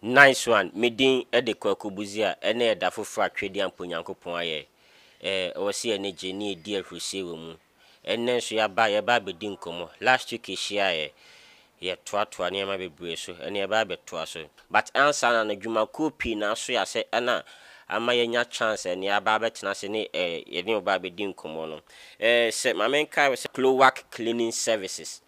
Nice one, me din de Kwaku Budziah, ɛnna yɛ da foforɔ a Twedean Mpo Nyankopɔn ayɛ. Ɛɛ, ɛwɔ sɛ yɛn ani gye na yɛdi ahurisie wɔ mu. Ɛnnɛ nso yɛaba, yɛreba abɛdi nkɔmmɔ. Last week yɛhyiaeɛ, yɛtoatoaa nneɛma bebree so, ɛnnɛ yɛba abɛtoa so. But ansa na no, dwumakuo pii na aso yɛn ase na ama yɛanya chance a ɛnnɛ yɛaba abɛtena ase ne ɛɛ, yɛne wo ba abɛdi nkɔmmɔ no. Ɛɛ, sɛ, ma menkae wo sɛ, Cloac Cleaning Services.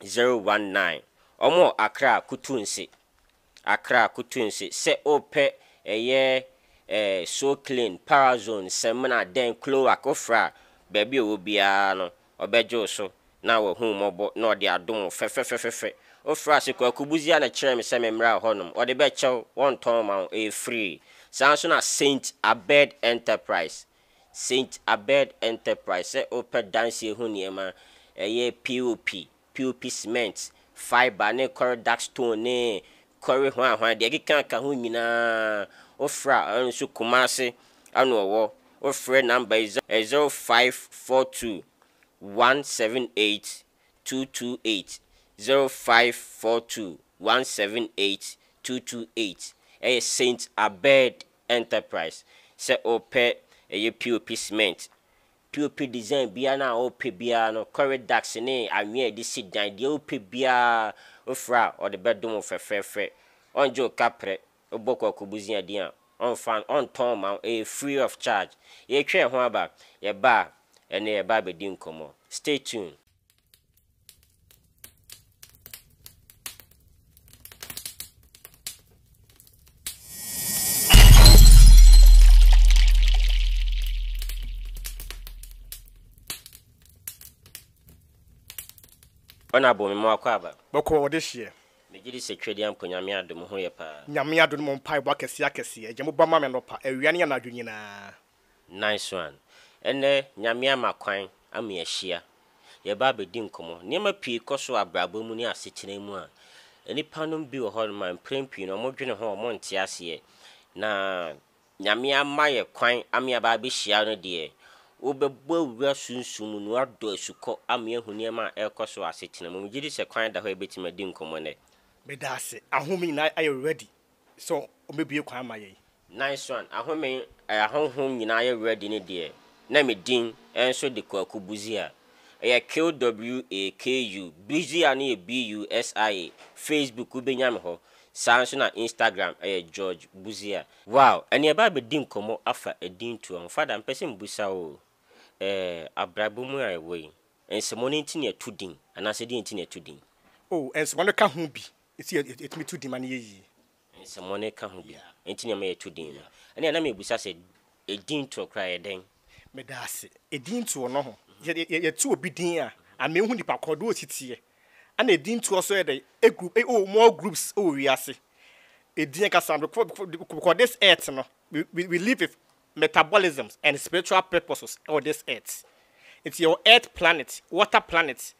019 Ɔmo akra kutu nse Akra kutu nse Sɛ opɛ ɛyɛ eh so clean Power zone samina dɛn Cloac ofra a baabi a ɔwɔ biara no Ɔbɛgye wo so na wahu wo mmɔbɔ na ɔde adom wo fɛfɛfɛfɛfɛ Ofra ase Kwaku Busia na kyerɛɛ me sɛ memmra hɔ nom Ɔde bɛkyɛ wo wɔntɔn mma wo ɛyɛ free Saa nso na Saint Abed Enterprise Saint Abed Enterprise sɛ wopɛ dansie ho nneɛma, ɛyɛ POP, POP cement, fibre ne kɔre dark stone ne kɔre hwanhwan, deɛ ɛkeka ka ho nyinaa wofrɛ a, ɛno nso Kumasi na wɔwɔ, wofrɛ number yi 0542 178 228, 0542 178 228, ɛyɛ Saint Abed Enterprise sɛ wopɛ ɛyɛ POP cement, POP design biara no a wopɛ biara no, kɔre ducts ne anwea a yɛde si dan, deɛ wopɛ biara wofrɛ a ɔde bɛdom wo fɛfɛɛfɛ. Ɔngye wo kaprɛ, wobɔ kwaku busia din a ɔnfa ɔntɔn mma wo, ɛyɛ free of charge. Yɛretwa ɛho aba, yɛba a ɛneɛ yɛba abɛdi nkɔmmɔ. Stay tuned. ɔna abɔ me mu akɔ aba bɛkɔ ɔde hyeɛ megye di sɛ twɛdi ampo nyame adom ho yɛ paa nyame adom mo mpaebɔ akɛseɛ akɛseɛ agya mo ba ma me nɔpa awia ne anadwo nyinaa Nansoan, ɛnnɛ Nyame ama kwan ama yɛahyia. Yɛreba abɛdi nkɔmmɔ. Nneɛma pii kɔ so wɔ abrabɔ mu ne asetena mu a, nnipa nom bi wɔ hɔ nom a mprɛn pii no wɔdwene ho a wɔnte aseɛ. Na Nyame ama yɛ kwan ama yɛaba abɛhyia no deɛ, wobɛbɔ awura sunsum mu na woadɔ asukɔ ama yɛahu nneɛma a ɛrekɔ so wɔ asetena mu. Megye di sɛ kwan da hɔ a yɛbɛtumi adi nkɔmmɔ nnɛ. Medaase. Ahome nyinaa ayɛ ready. sɛ ɔbɛbue kwan ama yɛn. Nansuan ahome a ahonhom nyinaa yɛ werɛ de ne deɛ, na me din nso de Kwaku Busia. Ɛyɛ KWAKU, Busia no yɛ BUSIA. Facebook wobɛnya me hɔ. Saa ara nso na Instagram ɛyɛ George Busia. Wow, ɛnneɛ ɛba abɛdi nkɔmmɔ afa edin toɔ ho. Fada, mepɛ sɛ mebusa wo, ɛɛ abrabɔ mu a yɛwɔ yi, nsɛmɔ no nti na yɛto din, anaasɛ deɛn nti na yɛto din? Oh, nsɛmɔ no ka ho bi. Enti yɛ yɛtumi to din ma no yɛ yie. Nsɛmmɔne reka ho bi nti na ɛma yɛto din no. Ɛnna na mebisa sɛ, Edin toɔ koraa yɛ dɛn? Meda ase. Edin toɔ no ho. Yɛ yɛ yɛ yɛto obi din a, ama ehu nipa korɔ deɛ ɔsi teɛ. Ɛnna edin toɔ nso yɛ dɛn? Egu e o more groups wɔ wiase. Edin ankasa no kɔ kɔ de kɔ this earth no we we we live with metabolisms and spiritual purposes wɔ this earth. Enti yɛwɔ earth planet, water planet,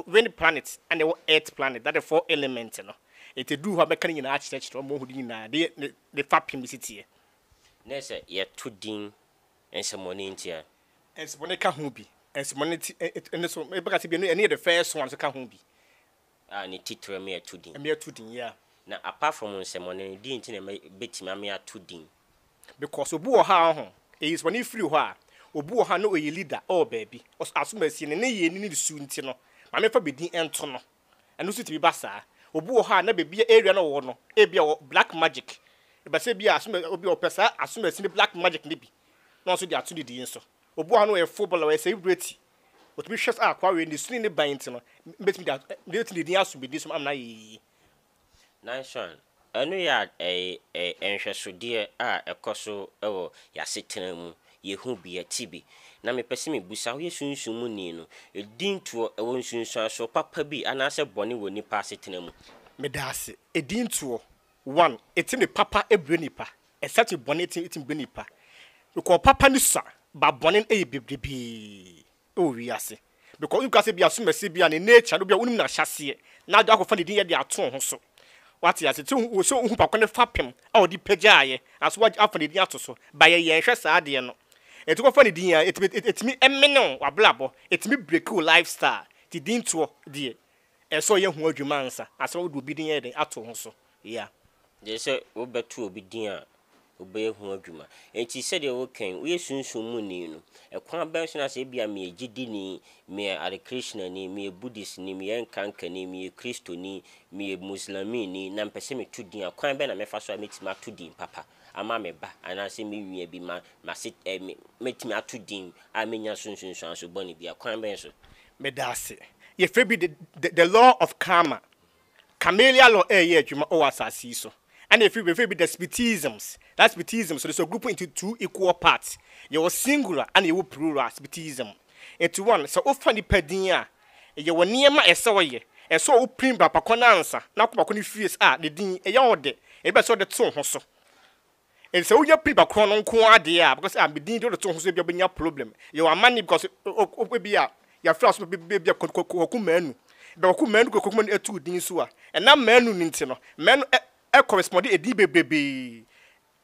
Wind planet na ɛwɔ Earth planet, that the four element no. Nti ɛduru hɔ a mɛka ne nyinaa akyerɛkyerɛ wo ma woahu ne nyinaa de ne ne fapem si teɛ. Ne sɛ yɛto din nsɛmmɔne nti a. Nsɛmmɔne ka ho bi. Nsɛmmɔne nti ɛ ɛno nso mɛka sɛ bi ɛno ɛno yɛ the first one nso ka ho bi. A ne titire me ato din. Me ato din, yeah. Na apart from nsɛmmɔne no, deɛn nti na mɛ bɛtumi ame ato din? because obi wɔ hɔ a ɔho eyi sɛ ɔne firi hɔ a obi wɔ hɔ a na ɔyɛ leader ɔwɔ baabi ɔs asomasie ne ne yɛ ne ne su nti no maame fa bɛdin ɛnto no ɛno nso tumi ba saa obi wɔ hɔ a na baabi a area na ɔwɔ no ebi a black magic ɛbɛsɛ bi a asoma obi a ɔpɛ saa asomasie ne black magic ne bi na ɔnso de ato ne din nso obi wɔ hɔ a na ɔyɛ footballer ɔyɛ celebrity ɔtumi hwɛ sɛ akwa wei ne su ne ne ban nti no mbɛtumi de ato ne din aso bɛdin so ama no ayɛ yie. Nanson, ɛno yɛ a ɛyɛ nhwɛsodeɛ a ɛkɔ so wɔ yɛn asetena mu. Yɛhu bi, yɛte bi. Na mepɛ sɛ mebisa, woyɛ Sunsum mu ni no, din toɔ, ɛwɔ nsunsuansoɔ papa bi anaasɛ bɔne wɔ nipa asetena mu? Medaase. Edin toɔ, one, etumi papa brɛ nipa, ɛsan tumi bɔne tumi brɛ nipa. Because papa no sua, but bɔne no yɛ bebrebee. wɔ wiase. Because wonim koraa sɛ bia asomasi bia ne nature no bia wonim n'ahyɛseɛ na ade akɔfa ne din yɛ de ato wo ho so. Wate ase? Sɛ wo sɛ wohu papa no fapem a ɔde pagyaeɛ aso afa ne din ato so. Ba yɛ yɛnhwɛ saa adeɛ no. Ɛti kɔfa ne din a ɛtumi ɛtumi ɛmene wo w'abrabɔ. Ɛtumi break wo lifestyle. Ti din toɔ deɛ Ɛsɛ sɛ ɔyɛ ho adwuma ansa asa wode obi din ayɛ dɛn ato ho so ya. Gyɛ sɛ wo bɛ to obi din a obɛyɛ ho adwuma. Enti sɛdeɛ wo kɛn, wo yɛ sunsum mu ni no, ɛkwan bɛn so na sɛ ebia me yɛ gyidini, me yɛ Hare Krishna ni, me yɛ Buddhist ni, me yɛ Nkanka ni, me yɛ Kristo ni, me yɛ Muslamii ni na mpɛ sɛ me to din a, kwan bɛn na mɛ fa so a mɛ tumi ato din papa ama me ba anaa sɛ me nua bi, ma, ma se, eh, me, mɛ tumi ato din a mɛ nya so nsunsuanso bɔne bia? Kwan bɛn so? Meda ase. Yɛfrɛ bi the, the, the law of karma. Camellia law ɛreyɛ adwuma wɔ asase yi so. Ɛna yɛfrɛ bi, yɛfrɛ bi the Spitisms. That Spitisms no, it's a group into two equal parts. Yɛwɔ singular ɛna yɛwɔ plural Spitism. Nti one, sɛ wofa nipa din a, yɛwɔ nneɛma a ɛsɛ ɔyɛ. Ɛsɛ ɔwo pirim bra pakɔ no ansa na akɔ pakɔ no fie a ne din, ɛyɛ ɔde. Ɛbɛ sɛ ɔde to wo ho so. And sɛ wonya pin bakorɔ no nko ara deɛ a because ah me din de wode to ho so ebi a wobɛnya problem yɛ w'amanne because ebi a yɛafrɛ aso ebi a kwaku manu bɛ kwaku manu kɔ kwaku manu ɛtu din so a ɛnam manu no nti no manu ɛ ɛ correspond edin bebrebee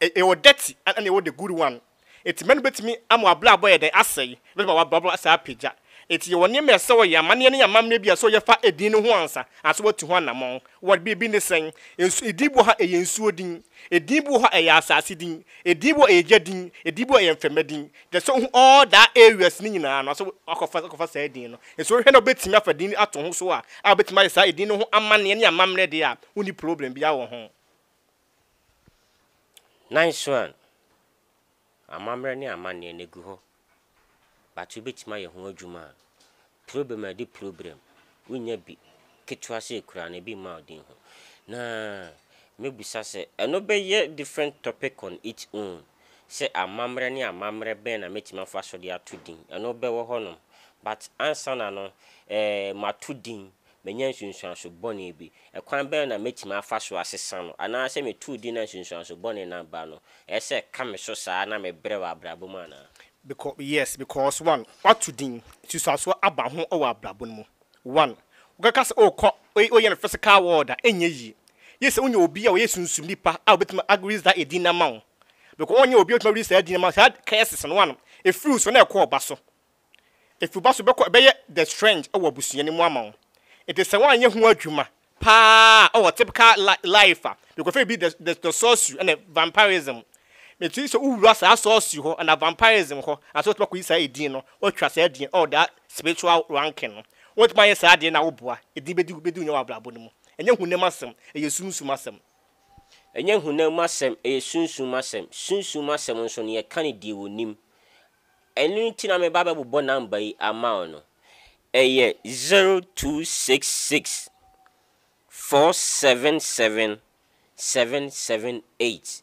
ɛwɔ dirty ɛna ɛwɔ the good one eti manu bɛtumi ama w'abrabɔ yɛ dɛn asɛe Bɛma w'abrabɔ asan apagya. Enti yɛwɔ nneɛma a ɛsɛ sɛ wɔyɛ, amanneɛ ne amammerɛ bi a ɛsɛ sɛ wɔyɛ fa edin no ho ansa, anaasɛ wɔatu ho anammɔn. Wɔ de, ebi ne sɛn? Nsu, edin bi wɔ hɔ a ɛyɛ nsuo din, edin bi wɔ hɔ a ɛyɛ asase din, edin bi wɔ hɔ a ɛyɛ gya din, edin bi wɔ hɔ a ɛyɛ mframa din. Kyerɛ sɛ wohu all that areas no nyinaa no, anaasɛ woakɔfa akɔfa saa edin no. Nso wohwɛ na wobɛtumi afa din no ato ho so a, a wobɛtumi ayɛ saa edin no ho amanneɛ ne amammerɛ deɛ a, wonni problem biara wɔ ho. Nanso an? Amammerɛ ne amanneɛ na egu hɔ but wobɛtumi ayɛ ho adwuma a, problem a ɛde problem, wonya bi ketewa sei koraa no ebi mma wo den ho. Na mɛbisa sɛ, ɛno bɛyɛ different topic on it own sɛ amammerɛ ne amammerɛ bɛn na mɛtumi afa so de ato din, ɛno bɛwɔ hɔnom but ansa na no eh mato din Manya nsunsuanso bɔne bi. Ɛkwan bɛn na mɛtumi afa so asesa no? Anaasɛ metuu din na nsunsuanso bɔne no aba no, ɛyɛ sɛ ɛka me so saa na mebrɛ wɔ abrabɔ mu anaa? Becau, yes, because, one, woato din, nsunsuanso aba ho wɔ abrabɔ no mu. One, wokaka sɛ wokɔ, woyɛ no physical world a, ɛnyɛ yie. Yie sɛ wonya obi a ɔyɛ sunsum nipa a ɔbɛtumi a release that edin no ama wo. Becau, wonyɛ obi a ɔbɛtumi a release saa din no ama wo, saa curses no, one, ɛfiri wo so na ɛkɔ wo ba so. Efi wo ba so bɛkɔ ɛbɛyɛ the strange wɔ abusua no mu ama wo. Enti sɛ woanyɛ ho adwuma paa a ɔwɔ typical life a, because ebi the the the sorcery ɛna vampirism. Meti sɛ wowura saa sorcery hɔ ɛna vampirism hɔ ansa wotumi akɔyi saa edin no, watwa saa edin ɔwɔ that spiritual ranking no. Wotumi ayɛ saa adeɛ no a woboa, edin bɛdi bɛdi wo nya wɔ abrabɔ no mu. Ɛnyɛ honam asɛm, ɛyɛ sunsum asɛm. Ɛnyɛ honam asɛm, ɛyɛ sunsum asɛm. Sunsum asɛm nso no yɛka no deɛ wɔnim. Ɛno nti na meba abɛbobɔ number yi ama wo no. Ɛyɛ zero two six six four seven seven seven seven eight,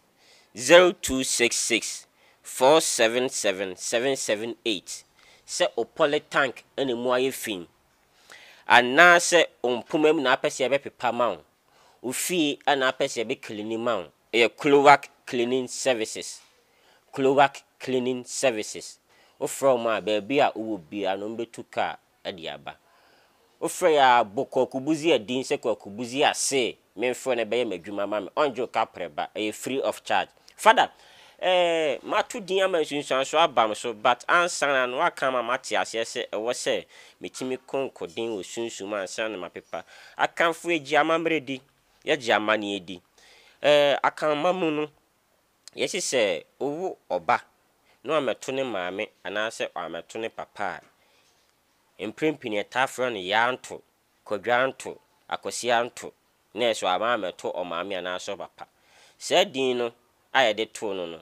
zero two six six four seven seven seven seven eight. Sɛ wo poly tank na ɛmu ayɛ fi anaasɛ wo mpoma mu na wopɛ sɛ yɛbɛpepa ma wo, wo fie na wopɛ sɛ yɛbɛ cleani ma wo Ɛyɛ Cloac Cleaning Services, Cloac Cleaning Services. Wofrɛ wɔn a, baabi a wowɔ biara no, wɔbɛtu kaa de aba. Wofrɛ yɛ ara bɔ Kwaku Busia din sɛ, Kwaku Busia se memfrɛ no bɛyɛ m'adwuma ma me. Ɔngye wo kaprɛ ba. Ɛyɛ free of charge. Fada, eh, mato din ama nsunsuansoɔ aba me so, but ansa na no woaka ama mate aseɛ sɛ ɛwɔ sɛ metumi konko den wɔ sunsum ansa na mapepa. Akanfoɔ agyi amammerɛ di. yɛgye amanneɛ di. Ɛɛ, Akanman mu no, yɛse sɛ wowo ɔba na wammɛto ne maame anaasɛ wammɛto ne papa a, mprempini yɛtaa frɛ no Yaanto, Kwadwoanto, Akwasianto, nɛɛso wamma ammɛto ɔmaame anaasɛ ɔpapa. Saa din no a yɛde too no no,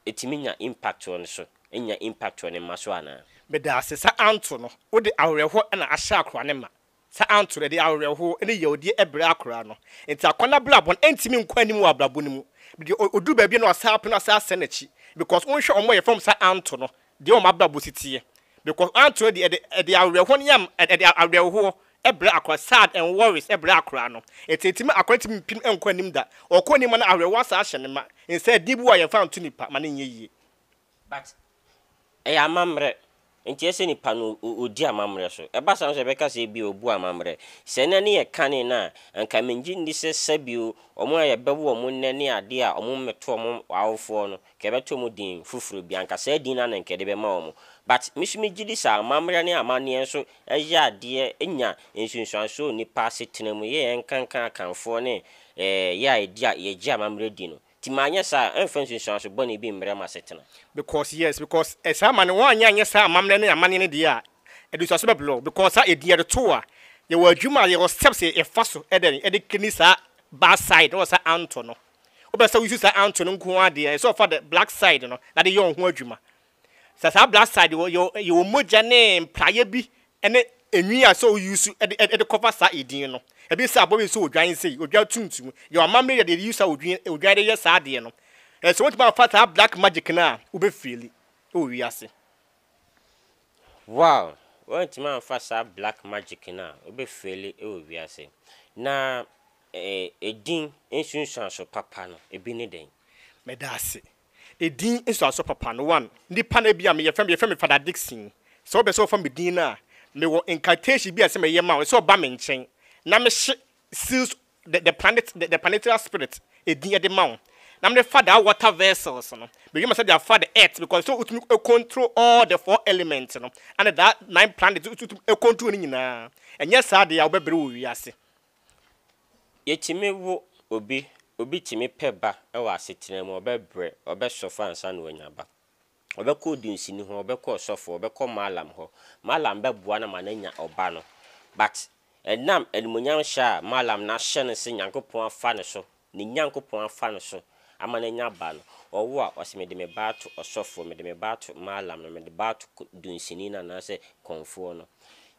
ɛtumi nya impact wɔ ne so, ɛnnya impact wɔ ne mma so anaa? Medaase, saa Anto no, wode awerɛhoɔ na ahyɛ akoa no ma. Saa anto no, ɛde awerɛhow ne yawdie brɛ akora no. Enti akɔnnɔ abrabɔ no, ɛntumi nkɔ anim wɔ abrabɔ no mu. Deɛ ɔduru baabi no ɔsan apene ɔsan asɛe n'akyi. Because wonhwɛ wɔn a wɔyɛ fam saa anto no, deɛ wɔn abrabɔ si teɛ. Because anto no deɛ ɛde ɛde awerɛhoɔ ne yam ɛde awerɛhoɔ brɛ akora, sad and worries brɛ akora no. Enti ɛtumi akora ntumi mpem nkɔ anim da. Ɔkɔ anim a na awerɛhoɔ asan ahyɛ no ma. Nsaa din bi wɔ a yɛmfa nto nipa ma no nyɛ yie. But ɛyɛ amammerɛ nti ɛsɛ nipa no ɔdi amammerɛ so. Ɛba saa nso ɛbɛka sɛ ebia ɔbu amammerɛ. Sɛ ɛna ne yɛ kane no a, anka mengye nni sɛ sɛbio wɔn a yɛbɛwo wɔn nnɛ ne adeɛ a wɔn mmɛto wɔn awofoɔ no, anka yɛbɛto wɔn din foforɔ bi. Anka saa din no ara na anka yɛde bɛma wɔn. But me nso megye di sɛ amammerɛ ne amanneɛ nso yɛ adeɛ, ɛnya nsunsuansoɔ wɔ nipa asetena mu. Yɛ yɛnkanka Akanfoɔ ne yɛ a yɛgye amammerɛ di no. Nti manyɛ saa a, ɛmfa nsunsuanso bɔne bi mmrɛ m'asetena. Because, yes, because ɛ, saa ma no, woanyɛ anyɛ saa amammerɛ ne amanneɛ no deɛ a, adutoaso bɛbrɛ wo, because saa edin yɛde to wo a, yɛwɔ adwuma a, yɛwɔ steps a yɛfa so ɛdɛn, ɛde clean saa bad side no wɔ saa anto no. Wopɛ sɛ wo use saa anto no nko ara deɛ, ɛsɛ sɛ ɔfa the black side no na de yɛ wo ho adwuma. Sɛ saa blood side wɔ yɛ yɛwɔ mogya ne mpraeɛ bi ne enwi a sɛ wo use de de cover saa edin no. Ebi sɛ abɔwe sɛ odwan sei, odwan tuntum. Yɛwɔ amammerɛ yɛde de use a odwin odwan de yɛ saa adeɛ no. Ɛɛ sɛ wotumi amfa saa black magic no a wobɛ feeli wɔ wiase. Wow! Woantumi amfa saa black magic no a wobɛ feeli wɔ wiase. Na ɛɛ edin nsunsuanso papa no ebi ne dɛn? Meda ase. Edin nsuanso papa no one nipa na ebia me yɛfrɛ me yɛfrɛ me Father Dickson sɛ wopɛ sɛ wɔfa me din no a mewɔ incantation bi a ɛsɛ meyɛ ma wo ɛsɛ ɔba me nkyɛn na mehye seals the the planet the planetary spirit edin ɛde ma wo na mede fa daa water vessels no mehwɛ ma sɛ de afa the earth because sɛ wotumi control all the four elements no ɛna daa nine planets wotumi control no nyinaa ɛnyɛ saa deɛ a wobɛbrɛ wɔ wiase Yɛtumi wo obi, obi tumi pɛ ba wɔ asetena mu, ɔbɛbrɛ, ɔbɛsɔfo ansa na wanya ba. Ɔbɛkɔ odunsini hɔ, ɔbɛkɔ ɔsɔfo, ɔbɛkɔ mallam hɔ, mallam bɛboa no ama no anya ɔba no. But ɛnam animuonyam hyɛ a mallam no ahyɛ no sɛ Nyankopɔn afa ne so Ne Nyankopɔn afa no so ama no anya ba no, ɔwo a, ɔse, Mede me ba ato ɔsɔfoɔ, mede me ba ato Mallam no, mede ba ato dunsini no anaasɛ kɔmfoɔ no.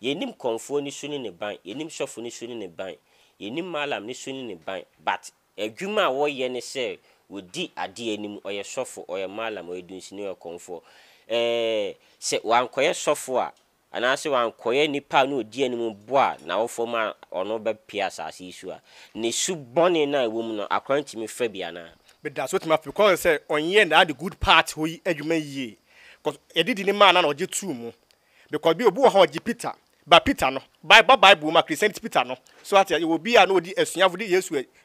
Yɛnnim kɔmfoɔ no su ne ne ban, yɛnnim sɔfo no su ne ne ban, yɛnnim Mallam no su ne ne ban, but adwuma a wɔyɛ ne sɛ wɔdi adeɛ anim, ɔyɛ sɔfo, ɔyɛ Mallam, ɔyɛ dunsini, ɔyɛ kɔmfoɔ. Ɛɛɛ, sɛ wankɔyɛ sɔfo a, anaasɛ wankɔyɛ nipa a na odi anim bo a n'awofo ma ɔno bɛpue asase yi so a, ne su bɔne no a ɛwɔ mu no, akora no tumi fa bi anaa? Meda so, otumi afi kwan sɛ ɔnyɛɛ that the good part hɔ yi adwuma yie cos yɛde di ne maa no a na ɔgye too mu because bi obi wɔ hɔ a ɔgye Peter but Peter no ba ba bible mu a Christianity Peter no so ate a yɛwɔ obi a na ɔdi asuafo de Yesu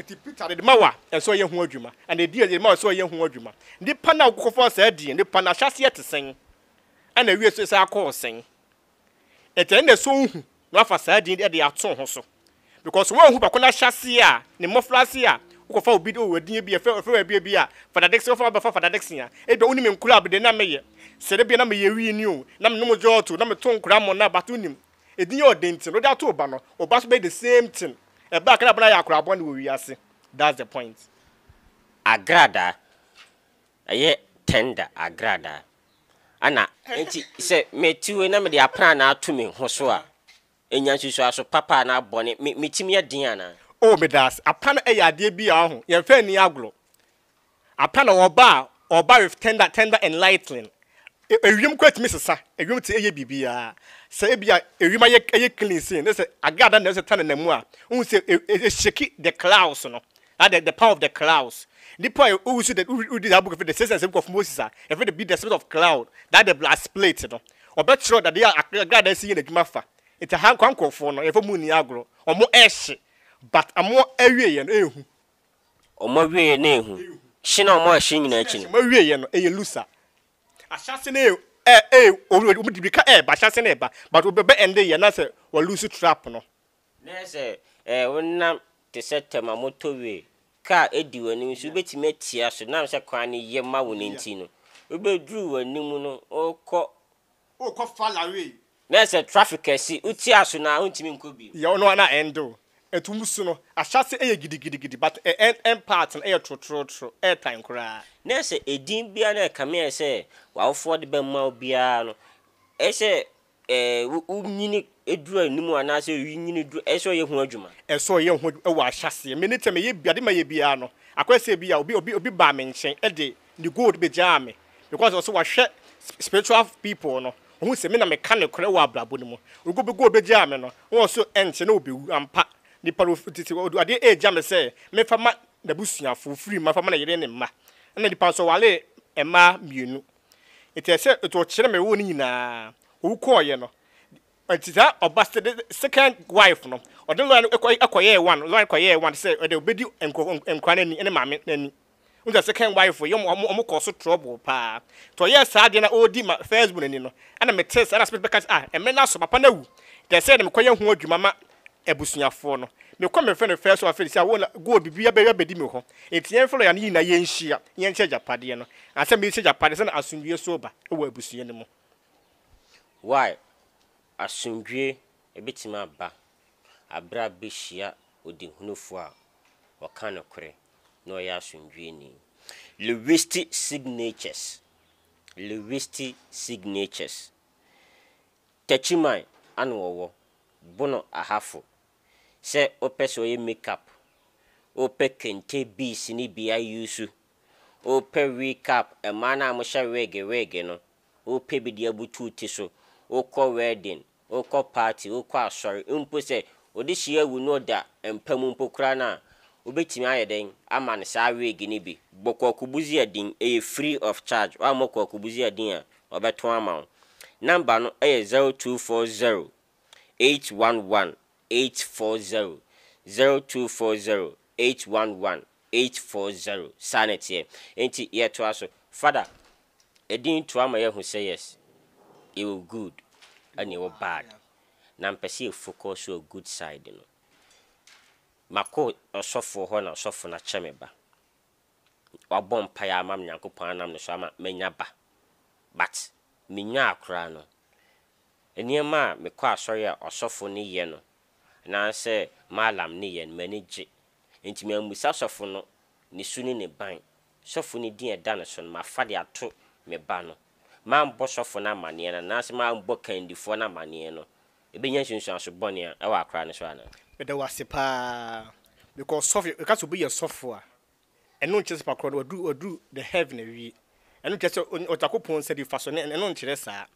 Enti Peter de ma wo a, ɛsɛ sɛ ɔyɛ ho adwuma, anaa edin a yɛde ma wo a, ɛsɛ sɛ ɔyɛ ho adwuma. Nnipa no a wɔkɔfa saa din no, nipa no ahyɛaseɛ te sɛn, ɛnna awie nso ɛsan kɔɔ sɛn? Enti ɛno na ɛsɛ sɛ ohu na wafa saa din no de ato ho so. Because woanhu baako no ahyɛaseɛ a, ne mmɔfraase a, wokɔfa obi de, oh, ɛdeɛ bi, ɛfɛ, ɛfɛ baabi bi a, Fada Dickson, wofa bɛfa Fada Dickson a, ebia wonim nkura a, bɛ deɛ na meyɛ sɛ da bi a na meyɛ wini o, na menom gyɔɔto, na meto nkura ammɔnna, but wonim. Edin yɛ ɔden nti na ɔde ato ɔba no, ɔba nso bɛyɛ the same thing. Ɛba a, ka dɛ abena yɛ akwadaa bɔne wɔ wiase. That's the point. Agradaa, ɛyɛ tender agradaa, ɛna. Enti sɛ matu na mede aprannaa ato me ho so a, enya nsusuaso papa anaa bɔne? Me me tirim yɛ den anaa? Oh, meda ase. Aprannaa yɛ adeɛ bi a, wahu, yɛmfa nni agorɔ. Apa na ɔba a, ɔba with tender, tender and lightning. E, ewiem koraa tumi sesa. Ewiem te eye biribiara. Sɛ ebi a ewiem ayɛ ayɛ clean sei, ne sɛ agrada na ɛsɛ ta nenam mu a, wohu sɛ e, e, eshake the clouds no. That the, the power of the clouds. Nipa a owusu the wodi the book of the sixth and seventh book of Moses a, yɛfrɛ no be the spirit of cloud. That the blood split no. Ɔbɛkyerɛ dade a agrada si yɛ n'adwuma fa. Nti ha nkwa nkurɔfoɔ no, yɛfrɛ mu nni agorɔ. Wɔn ɛhye, but wɔn awieɛ no ɛnhu. Wɔn awieeɛ no yɛ hu. Hye na wɔn a ɛhye nyinaa akyi no. Wɔn awieeɛ no yɛ lusa. Ahyɛase no yɛ eh eh oh oh wɔde mirika reba ahyɛase no reba but wɔbɛba ɛnde yɛ na sɛ wɔ lose trap no. Na yɛ sɛ eh wonam te sɛ tɛm a motor way car adi w'anim nso wobɛtumi atia so nam sɛ kwan no yɛ ma wo no nti no wobɛduru w'anim no wokɔ Wokɔ fa lawee. Na ɛsɛ traffic kɛse. Wote aso na wontumi nkɔ bio. Yɛ ɔno a na ɛnde o. Ɛtu mu su no, ahyɛase yɛ gidigidigidi but ɛn ɛn part no yɛ trotrootro, ɛyɛ tan koraa. Na ɛsɛ edin biara na ɛkame ayɛ sɛ w'awofoɔ de bɛma wo biara no, ɛyɛ sɛ ɛɛ wo wo nyini duru anim anaa sɛ wo nyini duru, ɛyɛ sɛ ɔyɛ ho adwuma. Ɛyɛ sɛ ɔyɛ ho adwuma wɔ ahyɛaseɛ. Me ne tɛ me yɛ bi ade ma yɛ biara no, akɔyɛ sɛ ebi a obi obi obi baa me nkyɛn de ne gold begyaa me because ɔse wahwɛ spiritual people no ohun sɛ me na meka nokorɛ wɔ abrabɔ no mu ogo be gold begyaa me no na ɔse ɛnkyɛ na obewu ampa nipa no ofi tete ɔde adeɛ regya me sɛ memfa ma n'abusuafo ofiri mma fa ma ne yere ne mma ɛna nipa nso ɔwaree mmaa mmienu nti ɛsɛ nti ɔkyerɛ me wɔ ne nyinaa owu kɔɔyɛ no nti saa ɔba sɛ de second wife no ɔde lɔya no ɛkɔ ɛkɔyɛɛ one lɔya no kɔyɛɛ one sɛ ɔde obedi nkɔ nkora n'ani ɛne maame n'ani Wohu sɛ second wife yi, wɔn wɔn kɔɔ so trouble paa. Nti ɔyɛɛ saa adeɛ na ɔredi ma first born ni no, ɛna metee sɛ ɛna Smith bɛka sɛ, ah, mmerɛ no aso, papa no awu, nti ɛsɛ sɛ mekɔyɛ ho adwuma ma abusuafoɔ no. Mekɔ mefrɛ no first wife no sɛ, oh, na gold biribiara bɛyɛ abɛdi me hɔ, nti yɛmfa lɔya no nyinaa yɛnhyia na yɛnkyɛ agyapadeɛ no, ansa merekyɛ agyapadeɛ sɛdeɛ asomdwoeɛ nso reba wɔ abusua no mu. Why? Asomdwoeɛ bɛtumi aba Bere a behyia ɔdehunufo a ɔka nokorɛ na ɔyɛ asomdwoeni. Linguistic Signatures Linguistic Signatures Takyiman ano ɔwɔ, bono ahafo Sɛ wopɛ sɛ ɔyɛ makeup Wopɛ kente beads ne bi ayusu Wopɛ wig cap mmaa no a wɔhyɛ wig wig no Wopɛ bi de abutu wo ti so Wokɔ wedding wokɔ party, wokɔ asɔre, mpo sɛ ɔde hyia awu na ɔda mpa mu mpo koraa no a, wobɛtumi ayɛ dɛn ama no saa wig no bi? Bɔ Kwaku Buziadin, ɛyɛ free of charge, woammɔ Kwaku Buziadin a, ɔbɛtɔn ama wo. Number no yɛ 0240 811 840 0240 811 840 saa na ɛteɛ enti yɛtoa so father ɛdin to ama yɛahu sɛ yes yɛwɔ good ɛna yɛwɔ bad na mpɛ sɛ yɛ focus wɔ good side no makɔ ɔsɔfoɔ hɔ na ɔsɔfoɔ no akyɛ me ba wabɔ mpaeɛ ama me Nyankopɔn anam ne so ama manya ba but menyaa koraa no Nneɛma a mekɔ asɔre a ɔsɔfo no yɛ no anaasɛ Mallam no yɛ no, m'ani gye. Enti mammisa sɔfo no ne su ne ne ban. Sɔfo no din a ɛda ne so no, mafa de ato me ba no. Mammɔ sɔfo no amanneɛ no anaasɛ mammɔ kandifoɔ no amanneɛ no, ɛbɛnya nsunsuanso bɔne a ɛwɔ akora no so anaa? Meda wo ase paa. Mekɔ ɔsɔfo, yɛka sɛ obi yɛ sɔfo a, ɛno nkyerɛ sɛ pakorɔ no waduru, waduru the heaven awie. Ɛno nkyerɛ sɛ ɔn, Onyankopɔn nsa nifa so, ɛno nkyerɛ saa.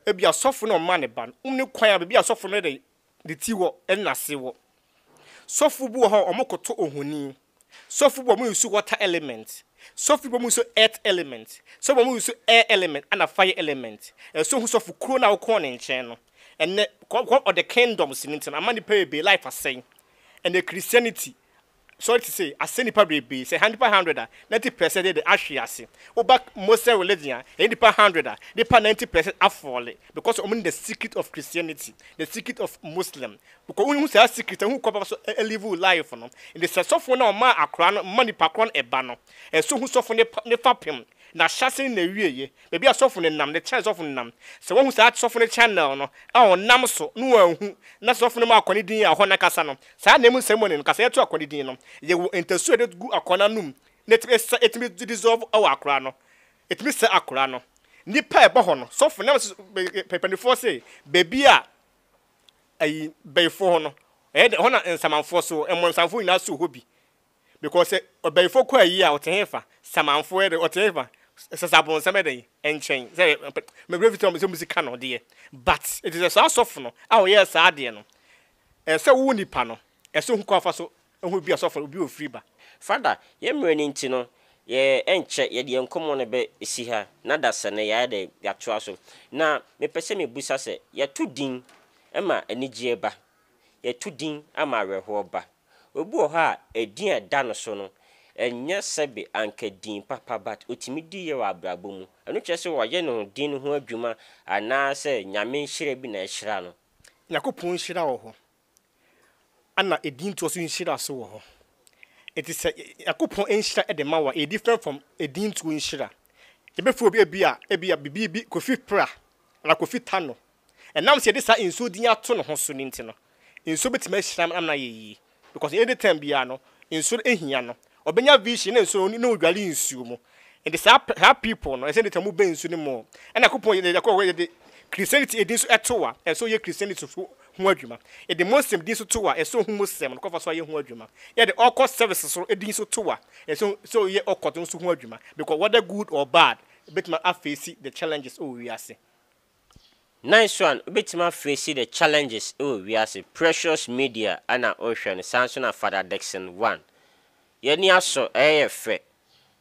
Ebia ɔsɔfo na ɔma ne ba no ne kwan a baabi a ɔsɔfo no de ne ti wɔ ne n'ase wɔ. Sɔfo bi wɔ hɔ a wɔkoto ohoni. Sɔfo bi wɔ hɔ a wɔyusu water element. Sɔfo bi wɔ hɔ a wɔyusu earth element. Sɔfo bi wɔ hɔ a wɔyusu air element ɛnna fire element. Ɛsɛ ohu sɔfo koro no a wokɔɔ ne nkyɛn no. Ɛnnɛ, kɔ kɔ ɔde kingdoms no nti no, ama nnipa bebree life asɛe. Ɛnnɛ Christianity sɔre te sɛ asɛ nipa bebrebe sɛ ha nipa hundred a ninety pɛsɛn de de ahwe ase wo ba mosɛ religion a ɛyɛ nipa hundred a nipa ninety pɛsɛn afɔle because ɔmo nim the secret of christianity the secret of muslim bcɔ wo hu saa secret no hu kɔ papa so live wo life no nti sɛ sɔfo no a ɔmaa akora no ma nipa korɔ no ɛba no ɛso hu sɔfo no ne fa pem na hyɛse ne na wie ye Baabi a sɔfo no nam, The channel sɔfo no nam, Sɛ wahu saa sɔfo no channel no a ɔnam so na wanhu, na sɛ sɔfo no ma akoa no din a ɔhɔ no ankasa no, saa ananmu no ceremony no, kasaeɛ to akoa no din no. Yɛwɔ ntasu a yɛde gu akoa no anom na ɛtumi sa, ɛtumi dissolve wɔ akoa no, ɛtumi sa akoa no. Nnipa a ɛba hɔ no, sɔfo nam so pɛpɛnifoɔ se baabi a ayi bɛyifoɔ hɔ no, ɛyɛ dɛ, ɛhɔ na nsamanfoɔ so, mmɔnsamfoɔ nyinaa so hɔ bi. because sɛ ɔbɛyifoɔ kɔ ayie a ɔte hefa? Samanfoɔ yɛ dɛ ɔte hefa? Sɛ sɛ abonsam yɛ dɛ nkyɛn sɛ me werɛ fi sɛ ɔmo sika no deɛ but ɛti sɛ saa sɔfo no a ɔyɛɛ saa adeɛ no ɛsɛ wo nipa no ɛsɛ ohu kwan fa so ɛho bi a sɔfo obi wɔ firi ba. Father, yɛ mmerɛ no nti no, yɛ ɛnkyɛ yɛde yɛn nkɔmmɔ no bɛ si ha, na dasɛ no yɛayɛ dɛn? Yɛatoa so. Na me pɛ sɛ me busa sɛ, yɛto din ma anigyeɛ ba? Yɛto din ama awerɛhoɔ ba? Obi wɔ hɔ a ɛdin a ɛda no so no ɛnyɛ sɛbe anka din papa but ɔtumi di yɛ wɔ abrabɔ mu. Ɛno kyerɛ sɛ wayɛ ne ho din no ho adwuma anaa sɛ Nyame nhyira bi na ahyira no. Nyankopɔn nhyira wɔ hɔ ɛna ɛdin toɔ so nhyira so wɔ hɔ. Ɛti sɛ Nyankopɔn nhyira ɛde ma wo a ɛyɛ different from ɛdin toɔ nhyira. Yɛbɛfrɛ obi ɛbia ɛbia bibi bi Kofi Pra anaa Kofi Tano Ɛnam sɛ yɛde saa nsuo din ato ne ho so no nti no, nsuo bɛtumi ahyira no ama no ayɛ yie. Because any time biara no, nsuo no hia no. Ɔbɛnya vision na nsuo no, na ɔdware nsuo mu. Nti saa pɛ, saa people no, ɛsɛ any time wobɛn nsuo no mu o. Ɛna Nyankopɔn yɛ, yɛ, yɛ, yɛde Christianity din nso to a, ɛsɛ ɔyɛ Christianity so ho adwuma. Yɛde Muslim din nso to a, ɛsɛ ɔhu Muslim no kwan fa so ayɛ ho adwuma. Yɛde Occult services so din nso to a, ɛsɛ sɛ ɔyɛ Occult no nso ho adwuma. Because whether good or bad, ɛbɛtumi afeesi the challenges ɛwɔ wiase. Nice one, wobɛtumi afei si the challenges wɔ wiase, precious media na wohwɛ no, saa nso na Father Dickson one. Yɛn ani asɔ, ɛyɛ yɛ fɛ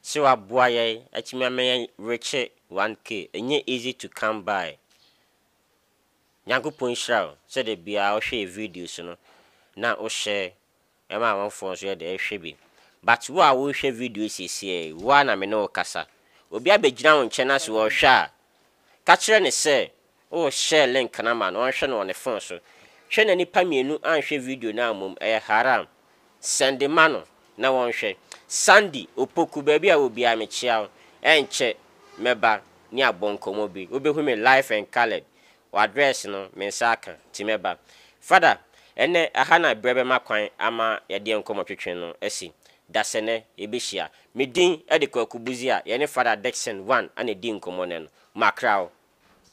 sɛ woaboa yɛn atumi ama yɛn rekye 1K, ɛnyɛ easy to come by. Nyankopɔn nhyira wo sɛ da biara wohwɛ yɛn videos no na wo share. Ɛma amanfoɔ nso yɛ dɛ hwɛ bi. But wo a worehwɛ video yi seesei yi, wo ara na me ne wo kasa. Obi abɛgyina wo nkyɛn na sɛ ɔrehwɛ a, ka kyerɛ no sɛ woreshare link no ama no ɔnhwɛ no wɔ ne phone so. Hwɛ na nnipa mmienu anhwɛ video no ammom, ɛyɛ haram. Sɛnde ma no na wɔnhwɛ. Sandy, Opoku, baabi a wɔ biara mekyea wo. Ɛnkyɛ mɛba ne abɔ nkɔmmɔ bi. Wobɛhu me live and coloured. W'address no me nsa aka nti mɛba. Father, ɛnnɛ ɛha na berɛ bɛma kwan ama yɛde nkɔmmɔtwetwe no asi. Dasɛnnɛ yɛbɛhyia. Me din de Kwaku Buzi a yɛne Father Dickson Wan na ɛdi nkɔmmɔ nnɛ no. Makra wo.